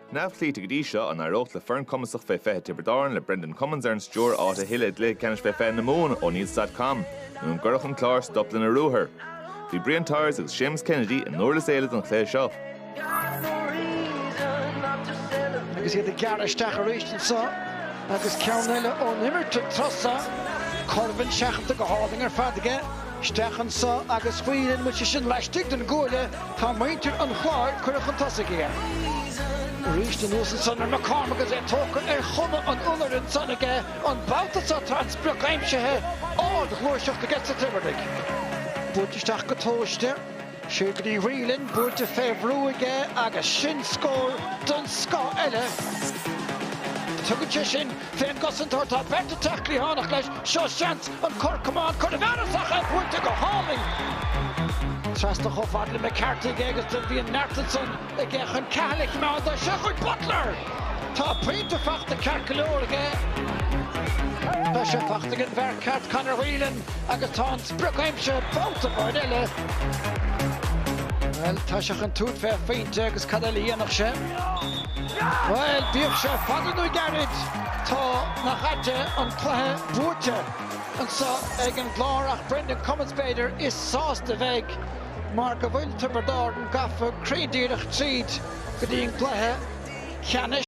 Neamhchloíte go dtí seo an éireodh le foireann cumasach fé fiche Tiobraid Árann le Brendan Cummins ar an stiúir, áit a thuilleamh i gcluiche ceannais fé fiche na Mumhan, O'Neills dot com, nó an gcuirfeadh an Clár stop lena ruathar? Bhí Brian Tyers agus Séamus Kennedy i nDurlas Éile don chluiche seo. Agus iad ag gearradh isteach arís anseo agus ceann eile ón imirt ag tosach, Currivan seachadta go hálainn ar fad aige. Isteach anso agus Whelan, an bhfuil sé sin laistigh den gcuaille? Tá, muintir an Chláir curtha chun tosaigh aige. Arís anuas ansan ar McCormack agus é tógtha ar chuma an iolair ansan aige, an babhta so tá an sprioc aimsithe, ardghluaiseacht aige sa Tiobraid. Buailte isteach go tomhaiste. Siúd go dtí Whelan buailte fé bhrú aige agus sin scór den scoth eile. Tugann sé sin fén gcosantóir, tá beirt ag teacht cliathánach leis, seo seans an cor camáin cur i bhfearas ach é buailte go hálainn trasna chomh fada le McCarthy aige agus do bhí an neart ansan. Ag dul chun catha le cineál de sheafóid Butler! Tá pointe fachta ceart go leor aige. Tá sé fachta ag an bhfear ceart Conor Whelan agus tá an sprioc aimsithe babhta amháin eile. Bhuel, tá sé chun tabhairt fé phointe agus cad eile a dhéanfadh sé? Bhuel, bíodh sé fada nó gairid, tá, nach aite, an cluiche buaite anso ag an gClár ach Brendan Cummins, b'fhéidir, is sásta a bheidh. mar go bhfuil Tiobraid Árann gafa cruinn díreach tríd go dtí an gcluiche ceannais.